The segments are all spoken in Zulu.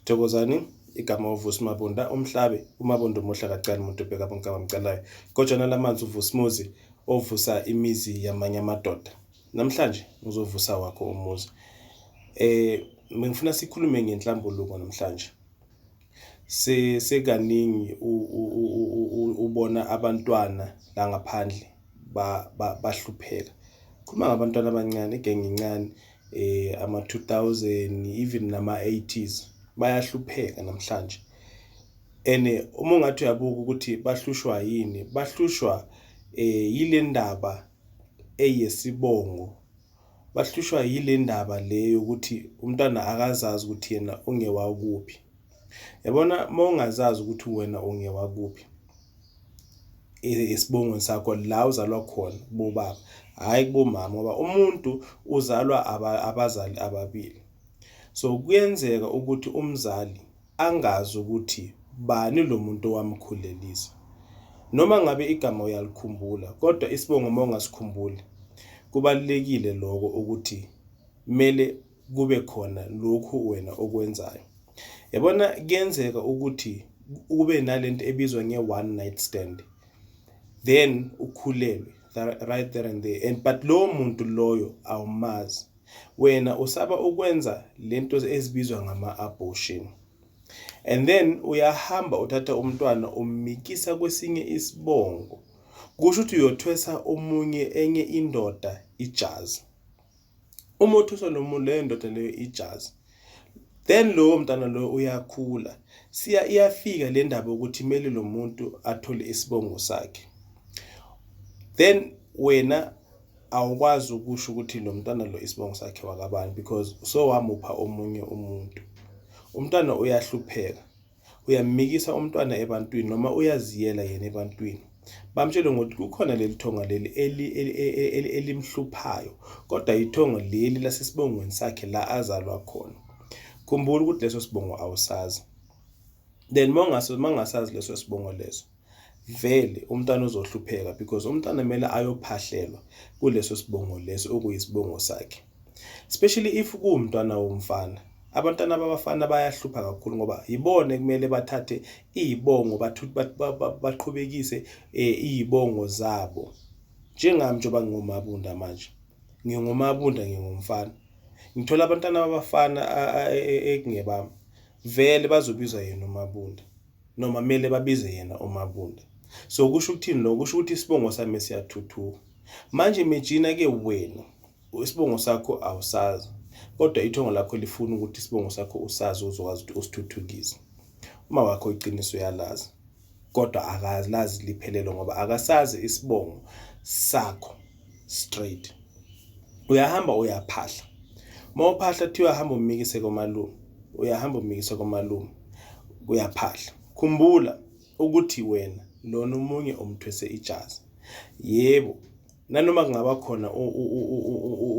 Thokozani igama uVusi Mabunda umhlabi uMabunda umuhle akacali muntu ubheka bonke abamcalayo kodwa nalamanzi uVusimuzi ovusa imizi yamanye amadoda namhlanje ngizovusa wakho umuzi eh ngifuna sikhulume ngenhlambuluko namhlanje se sekaningi ubona abantwana la ngaphandle bahlupheka khuluma ngabantwana abancane igenge incane eh ama 2000 even nama 80s bayahlupheka namhlanje ene uma ungathi uyabuka ukuthi bahlushwa yini bahlushwa eh yilendaba eyesibongo bahlushwa yilendaba leyo ukuthi umntwana akazazi ukuthi yena ungewakuphi yabona uma ungazazi ukuthi wena ungewakuphi esibongweni sakho la uzalwa khona kubobaba hhayi kubomama ngoba umuntu uzalwa abazali ababili so kuyenzeka ukuthi umzali angazi ukuthi bani lo muntu owamkhulelisa noma ngabe igama uyalikhumbula kodwa isibongo uma ungasikhumbuli kubalulekile lokho ukuthi kumele kube khona lokhu wena okwenzayo yabona kuyenzeka ukuthi ube nalento ebizwa nge one night stand then ukhulelwe right there and there and but lowo muntu loyo awumazi wena usaba ukwenza lento ezibizwa ngama abortion and then uyahamba uthatha umntwana ummikisa kwesinye isibongo kusho ukuthi uyothwesa omunye enye indoda ijazi Umothuso nomuntu leyo ndoda leyo ijazi. Then lowo mntana loyo uyakhula. Siya iyafika le ndaba ukuthi kumele lo muntu athole isibongo sakhe. Then wena awukwazi ukusho ukuthi lo mntana lo isibongo sakhe wakabani because sowamupha omunye umuntu. Umntana uyahlupheka. uyamikisa umntwana ebantwini noma uyaziyela yena ebantwini bamtshele ngokuthi kukhona leli thonga leli elimhluphayo kodwa ithongo leli lasesibongweni sakhe la azalwa khona khumbula ukuthi leso sibongo awusazi then mongaso mangasazi leso sibongo leso vele umntana uzohlupheka because umntana kumele ayophahlelwa kuleso sibongo leso okuyisibongo sakhe especially if kuwumntwana womfana abantwana babafana bayahlupha kakhulu ngoba yibona kumele bathathe iy'bongo baqhubekise eh, iy'bongo zabo njengami njengoba ngingumabunda manje ngingumabunda ngingumfana ngithola abantwana babafana e, e, e, ekungebami vele bazobizwa yena umabunda Noma mele babize yena uMabunda. So kusho ukuthini lokho? Kusho ukuthi isibongo sami siyathuthuka. Manje imagine ke wena isibongo sakho awusazi kodwa ithongo lakho lifuna ukuthi isibongo sakho usazi uzokwazi ukuthi usithuthukise. Uma wakho iqiniso uyalazi kodwa akalazi liphelelo ngoba akasazi isibongo sakho. straight uyahamba uyaphahla uma uphahla kuthiwa uyahamba umikise komalume uyahamba umikise komalume uyaphahla khumbula ukuthi wena lona umunye umthwese ijazi yebo nanoma kungaba khona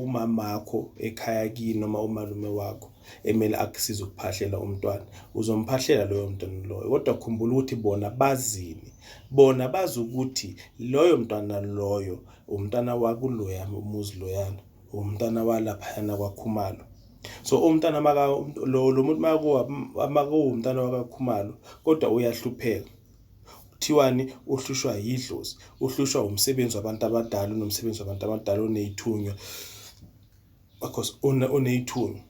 umamakho ekhaya kini noma umalume wakho emele akusize ukuphahlela umntwana uzomphahlela loyo mntwana loyo kodwa khumbula ukuthi bona bazini bona bazi ukuthi loyo mntwana loyo umntwana wakuloya umuzi loyana umntwana walaphayana kwakhumalo so umntana maka lo lo muntu makuwa makuwumntana wakakhumalo kodwa uyahlupheka kuthiwani uhlushwa yidlozi uhlushwa umsebenzi wabantu abadala unomsebenzi wabantu abadala oneyithunywa because uneyithumi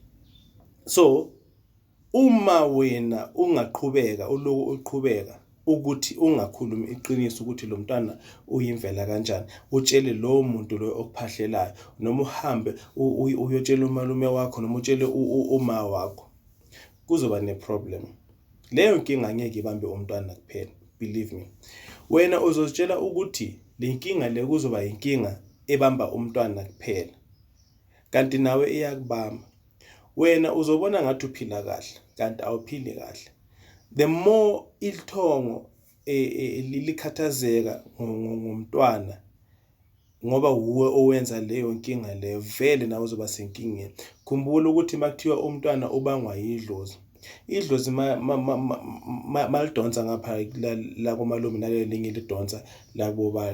so uma wena ungaqhubeka uloku uqhubeka ukuthi ungakhulumi iqiniso ukuthi lo mntwana uyimvela kanjani utshele lowo muntu loyo okuphahlelayo noma uhambe uyotshela umalume wakho noma utshele uma wakho kuzoba neproblem Leyo nkinga angeke ibambe umntwana kuphela, believe me. Wena uzozitshela ukuthi le nkinga le kuzoba yinkinga ebamba umntwana kuphela, kanti nawe iyakubamba. Wena uzobona ngathi uphila kahle, kanti awuphili kahle. The more ilithongo e, e, likhathazeka ngomntwana ngoba wuwe owenza leyo nkinga leyo vele nawe uzoba senkingeni khumbula ukuthi makuthiwa umntwana ubangwa yidlozi idlozi malidonsa ngapha la komalume nalelinye lidonsa lakuboba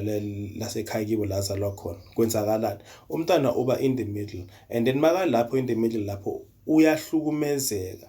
lasekhaya kibo la zalwa khona kwenzakalani umntana uba in the middle and then makalapho in the middle lapho uyahlukumezeka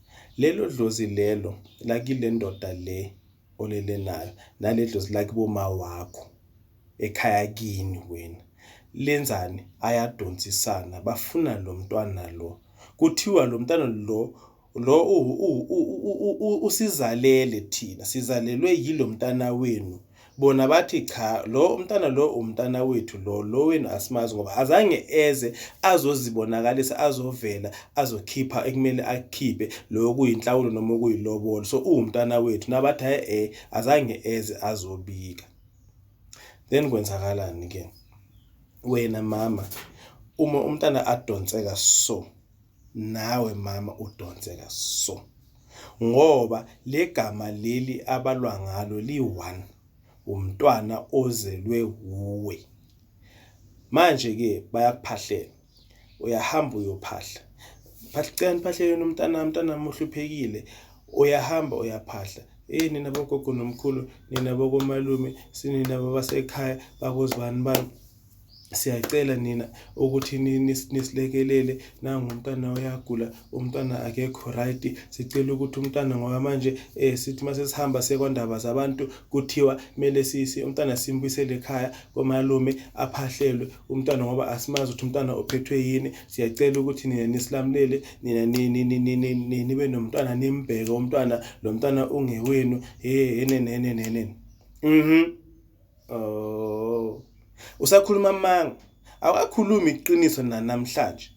Lelo dlozi lelo lakile ndoda le olele nayo nale dlozi lakibo ma wakho ekhaya kini wena lenzani ayadonsisana bafuna lo mntwana lo kuthiwa lo mntwana lo lo usizalele thina sizalelwe yilo mntana wenu bona bathi cha lo umntana lo umntana wethu lo lo wenu asimazi ngoba azange eze azozibonakalisa azovela azokhipha ekumele akhiphe lo kuyinhlawulo noma okuyilobolo so uwumntana wethu nabathi hayi eh azange eze azobika then kwenzakalani ke wena mama uma umntana adonseka so nawe mama udonseka so ngoba legama leli abalwa ngalo li-one umntwana ozelwe wuwe manje-ke bayakuphahlela uyahamba uyophahla phahlani phahleleni umntanami umntanami uhluphekile uyahamba uyaphahla eyi nina bogogo nomkhulu nina bokomalume sinina babasekhaya bakuzibani bani siyacela nina ukuthi nisilekelele nangumntana uyagula umntana akekho right sicela ukuthi umntana ngoba manje eh sithi mase sihamba sekwandaba zabantu kuthiwa kumele sisi umntana simbuyisele ekhaya komalume aphahlelwe umntana ngoba asimazi ukuthi umntana uphethwe yini siyacela ukuthi nina nisilamulele nina nibe nomntana nimbheke umntana lo mntana ungewenu hey enenenenenen mhm Oh. Usakhuluma amanga. Awakakhulumi iqiniso nanamhlanje.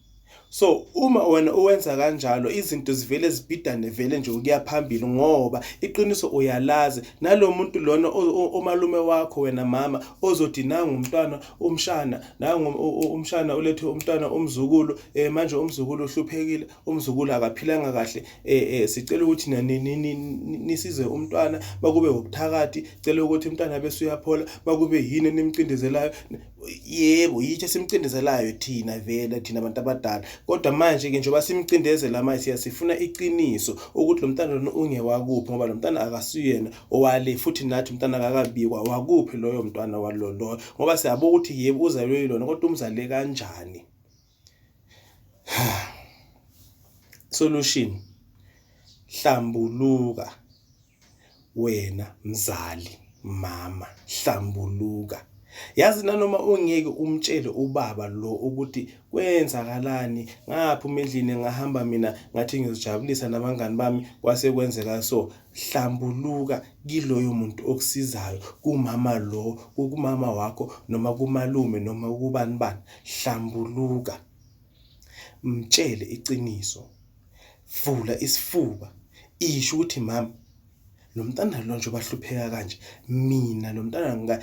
So uma wena uwenza kanjalo izinto zivele zibhidane vele nje ukuya phambili ngoba iqiniso uyalazi nalomuntu lona omalume wakho wena mama ozothi nangu umntwana umshana nangu umshana ulethe umntwana umzukulu eh manje umzukulu uhluphekile umzukulu akaphilanga kahle eh, eh sicela ukuthi nisize umntwana bakube wobuthakathi cela ukuthi umntwana bese uyaphola bakube yini enimcindezelayo yebo yithi esimcindezelayo thina vele thina abantu abadala kodwa manje ke njengoba simcindezela manje siyasifuna iqiniso ukuthi lo mntana lona ungewakuphi ngoba lo mntana akasiyena owale futhi nathi umntana akakabikwa wakuphi loyo mntwana waloloyo ngoba siyabona ukuthi yebo uzalwe yilona kodwa umzale kanjani solution hlambuluka wena mzali mama hlambuluka yazi nanoma ungeke umtshele ubaba lo ukuthi kwenzakalani ngaphuma endlini ngahamba mina ngathi ngizojabulisa nabangani bami kwase kwenzeka so Hlambuluka kiloyo muntu okusizayo, kumama lo, kumama wakho noma kumalume noma kubani bani. Hlambuluka. Mtshele iqiniso. Vula isifuba. Isho ukuthi mama lo mntana lo njengoba ahlupheka kanje mina lo mntana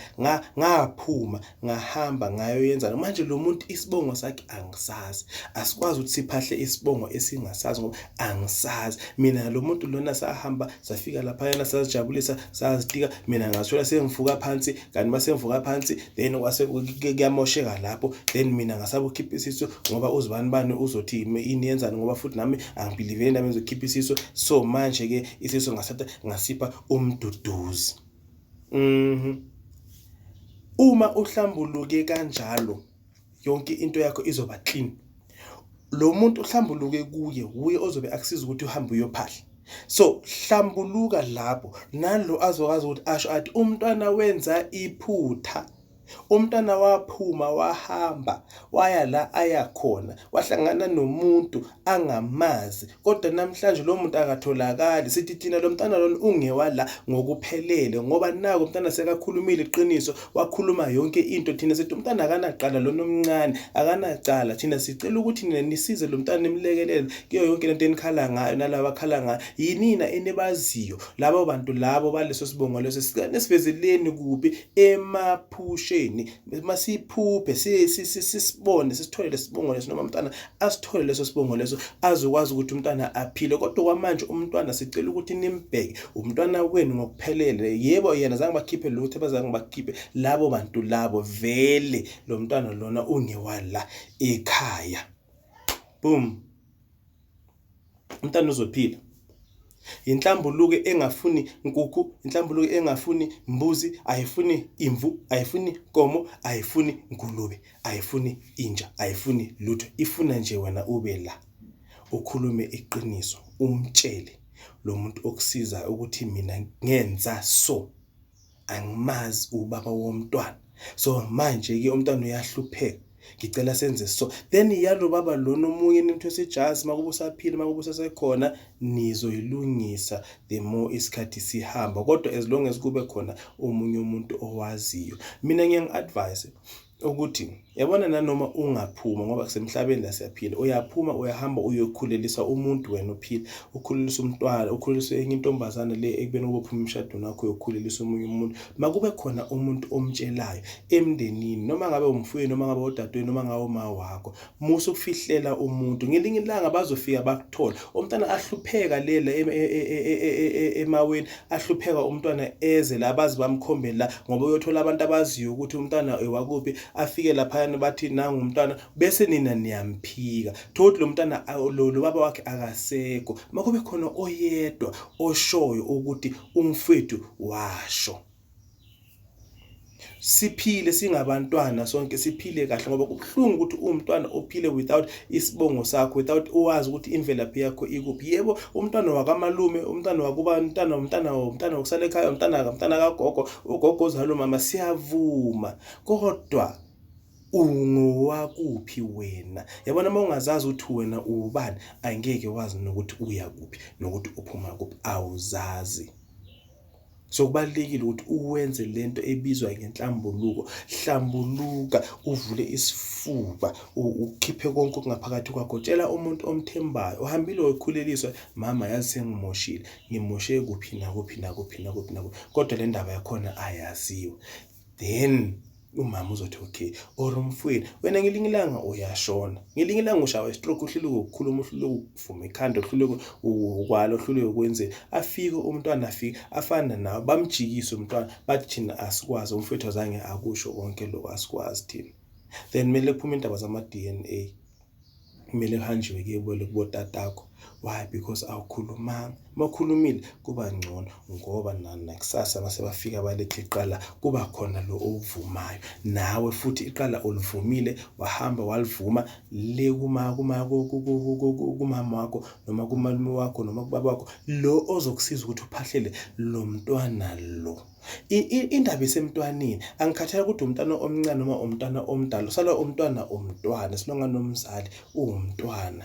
ngaphuma ngahamba ngayoyenzana manje lo muntu isibongo sakhe angisazi asikwazi ukuthi siphahle isibongo esingasazi ngoba angisazi mina lo muntu lona sahamba safika lapha yana sazijabulisa sazitika mina ngathola sengivuka phansi kanti uma sengivuka phansi then kwase kuyamosheka lapho then mina ngasaba ukhipha isiso ngoba uzibani bani uzothi yini yenzani ngoba futhi nami angibhiliveli nami ngizokhipha isiso so manje ke isiso ngasatha ngasipha umduduzi Mhm. Uma uhlambuluke kanjalo yonke into yakho izoba clean. Lo muntu uhlambuluke kuye wuye ozobe akusiza ukuthi uhambe uyophahla. So hlambuluka lapho nalo azokwazi ukuthi asho athi umntwana wenza iphutha. Umntana waphuma wahamba waya la aya khona wahlangana nomuntu angamazi kodwa namhlanje lo muntu akatholakali sithi thina lo mntana lona ungewala ngokuphelele ngoba nako umntana sekakhulumile iqiniso wakhuluma yonke into thina sithi umntana akanaqala lona omncane akanacala thina sicela ukuthi nina nisize lo mntana nimlekelele kuyo yonke lento enikhala ngayo nalaba akhala ngayo yinina enibaziyo labo bantu labo baleso sibongo leso siveze leni kuphi emaphusheni masiphuphe sisibone sisithole lesibongo leso noma umntana asithole leso sibongo leso azokwazi ukuthi umntana aphile kodwa kwamanje umntwana sicela ukuthi nimbheke umntwana wenu ngokuphelele yebo yena zange bakhiphe lutho abazange bakhiphe labo bantu labo vele lo mntwana lona ungewala ekhaya boom Umntana uzophila. Yinhlambuluko engafuni nkukhu, inhlambuluko engafuni mbuzi, ayifuni imvu, ayifuni komo, ayifuni ngulube, ayifuni inja, ayifuni lutho. Ifuna nje wena ube la ukhulume iqiniso, umtshele lo muntu okusizayo ukuthi mina ngenza so. angimazi ubaba womntwana so manje ke umntwana uyahlupheka ngicela senze so then yalo baba lona omunye nimthwesa ijazi makuba usaphila makuba usasekhona nizoyilungisa the more isikhathi sihamba kodwa as long as kube khona omunye umuntu owaziyo mina ngiyangi-advise ukuthi yabona nanoma ungaphuma ngoba kusemhlabeni la siyaphila uyaphuma uyahamba uyokhulelisa umuntu wena uphila ukhulelisa umntwana ukhulelisa enye intombazane le ekubeni kube phuma emshadweni wakho uyokhulelisa omunye umuntu makube khona umuntu omtshelayo emndenini noma ngabe umfweni noma ngabe odadweni noma ngabe uma wakho musa ukufihlela umuntu ngelinye ilanga bazofika bakuthola umntana ahlupheka lela e, e, e, emaweni ahlupheka umntwana eze la bazi bamkhombele la ngoba uyothola abantu abaziyo ukuthi umntwana ewakuphi afike laphayana bathi nangu umntwana bese nina niyamphika thothi lo mntana lo baba wakhe akasekho makube khona oyedwa oshoyo ukuthi umfethu washo siphile singabantwana sonke siphile kahle ngoba kubuhlungu ukuthi uwumntwana ophile without isibongo sakho without uwazi ukuthi imvelaphi yakho ikuphi yebo umntwana wakamalume umntwana wakuba umntana umntana umntana wokusala ekhaya umntana kamntana kagogo ugogo ozalo mama siyavuma kodwa ungowakuphi wena yabona uma ungazazi ukuthi wena uwubani angeke wazi nokuthi uya kuphi nokuthi uphuma kuphi awuzazi so kubalulekile ukuthi uwenze lento ebizwa ngenhlambuluko hlambuluka uvule isifuba ukhiphe konke okungaphakathi kwakho tshela umuntu omthembayo uhambile wekhuleliswa mama yazi sengimoshile ngimoshe kuphi nakuphi nakuphi nakuphi nakuphi kodwa le ndaba yakhona ayaziwa then umama uzothi okay or umfwini wena ngelinye ilanga uyashona ngelinye ilanga ushawa istroke uhluleke ukukhuluma uhluleke ukuvuma ikhanda uhluleke ukwala uhluleke ukwenzeni afike umntwana afike afana nawe bamjikise umntwana bathi thina asikwazi umfethu azange akusho konke lokho asikwazi thina then kumele kuphume indaba zama-d n a kumele kuhanjiwe kuyebole kubotatakho why because awukhulumanga uma ukhulumile kuba ngcono ngoba nakusasa mase bafika baletha iqala kuba khona lo owuvumayo nawe futhi iqala ulivumile wahamba walivuma le kuma kuma kumama wakho noma kumalume wakho noma kubaba wakho lo ozokusiza ukuthi uphahlele lo mntwana lo Indaba isemntwaneni angikhathali ukuthi umntwana omncane noma umntwana omdala usala umntwana umntwana as long anomzali uwumntwana.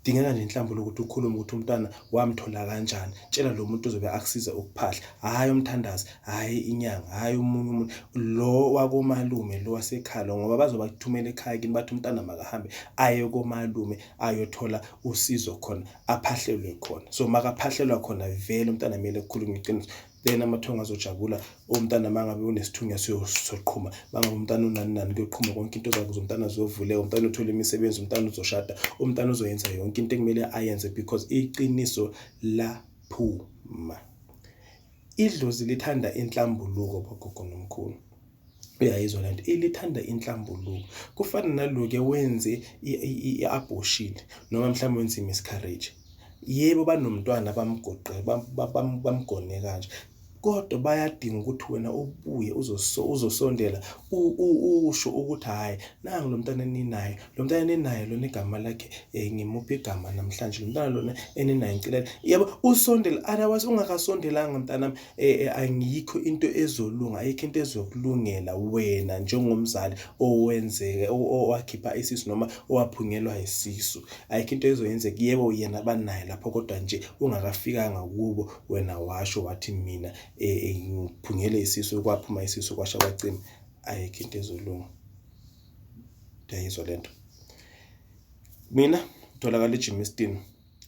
Kudingeka nje inhlambuluko ukuthi ukhulume ukuthi umntwana wamthola kanjani. Tshela lo muntu ozobe akusize ukuphahla, hhayi umthandazi, hhayi inyanga, hhayi omunye umuntu, lo wakomalume lo wasekhaya lo ngoba bazobe bakuthumela ekhaya kini bathi umntana makahambe aye komalume ayothola usizo khona. aphahlelwe khona so makaphahlelwa khona vele umntana kumele kukhulunywe iqiniso then amathongo azojabula umntana mangabe unesithunywa siyoqhuma mangabe umntana unani nani kuyoqhuma konke into zakuze umntana ziyovuleka umntana uthole imisebenzi umntana uzoshada umntana uzoyenza yonke into ekumele ayenze because iqiniso laphuma idlozi lithanda inhlambuluko bogogo nomkhulu uyayizwa lento ilithanda inhlambuluko kufana naloke wenze i-abortion noma mhlawumbe wenze i-miscarriage yebo banomntwana bamgoqe bamgone kanje kodwa bayadinga ukuthi wena ubuye uzosondela usho ukuthi hhayi nangu lo mntana eninayo lo mntana eninayo lona igama lakhe um ngimuphi igama namhlanje lo mntana lona eninayo ngicela yebo usondele otherwise ungakasondelanga mntanami Eh, eh, angiyikho into ezolunga ayikho into ezokulungela wena njengomzali owenzeke owakhipha isisu noma owaphungelwa isisu ayikho into ezoyenzeka yebo yena banaye lapho kodwa nje ungakafikanga kubo wena washo wathi mina eh, ngiphungele isisu kwaphuma isisu kwasha kwacima ayikho into ezolunga ndiyayizwa lento mina tholakala ejimistin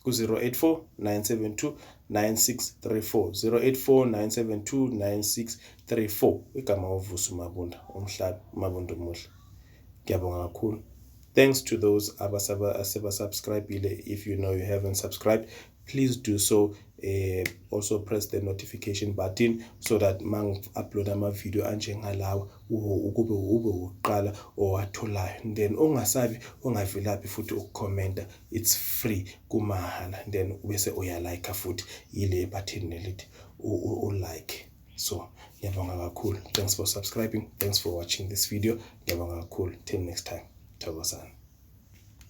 ku-084 972 9634 084 972 9634 igama wovusa umabunda umhlabi umabunda omuhle ngiyabonga kakhulu thanks to those abasebasubscribile if you know you haven't subscribed please do so uh, also press the notification button so that mangi-upload ama-video anjengalawa ukube ube wokuqala owatholayo then ungasabi ungavilaphi futhi ukukhomenta it's free kumahala then ubese uya like futhi yile button nelithi u like so ngiyabonga kakhulu thanks for subscribing thanks for watching this video ngiyabonga kakhulu till next time thokozani